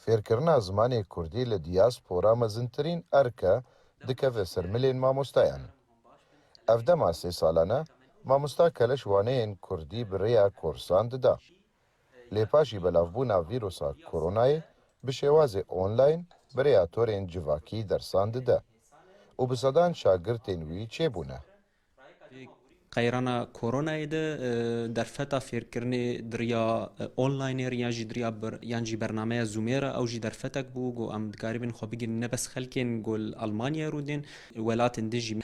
Fêrkirina zimanê kurdî li dîyaspora mezintirîn erk e dikeve ser milên mamostayan. Ev dema sê salan e, mamosta keleş waneyên kurdî bi rêya korsan dida. Lê paşî belavbûna vîrusa koronayê bi şêwazê online bi rêya torên civakî dersan dide û bi sedan şagirtên wî çêbûne. Di qeyrana koronayê de derfeta fêrkirinê di rêya onlinê re yan jî di rêya yan jî bernameya Zoomê re ew jî derfetek bû. Got em dikarîbin xwe bigihînin ne bes xelkên ku li Elmanyayê rû dên, welatên din jî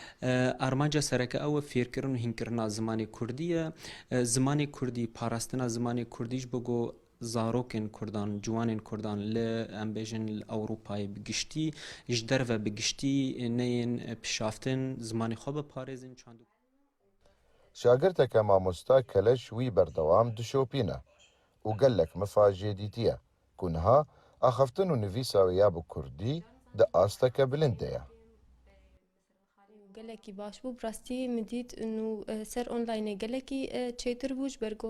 armanca sereke ew e fêrkirin û hînkirina zimanê kurdî ye. Zimanê kurdî, parastina zimanê kurdî ji bo ku zarokên kurdan, ciwanên kurdan li em bêjin li Ewropayê bi giştî, ji derve bi giştî neyên pişaftin zimanê xwe biparêzin. Şagirteke mamosta keleş wî berdewam dişopîne û gelek mifa jê dîtiye ku niha axaftin û nivîsa wê ya bi kurdî di asteke bilind de ye. Gelekî baş bû, bi rastî min dît û ser onlaynê gelekî çêtir bû ji ber ku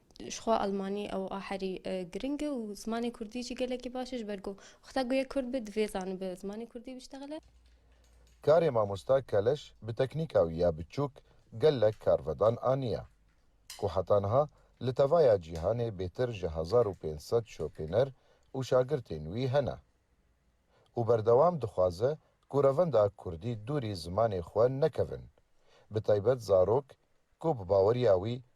Jixwe Almanî ew a herî giring e û zimanê Kurdî jî gelekî baş e ji ber ku xweta ku yek Kurd be divê zani bi zimanê Kurdî biştexile. Karê mamosta Keleş bi teknîka wî ya biçûk gelek karvedan aniye ku heta niha li tevaya cîhanê bêtir ji hezar û pênc sed şopêner û şagirtên wî hene û berdewam dixwaze ku revenda Kurdî dûrî zimanê xwe nekevin bi taybet zarok ku bi baweriya wî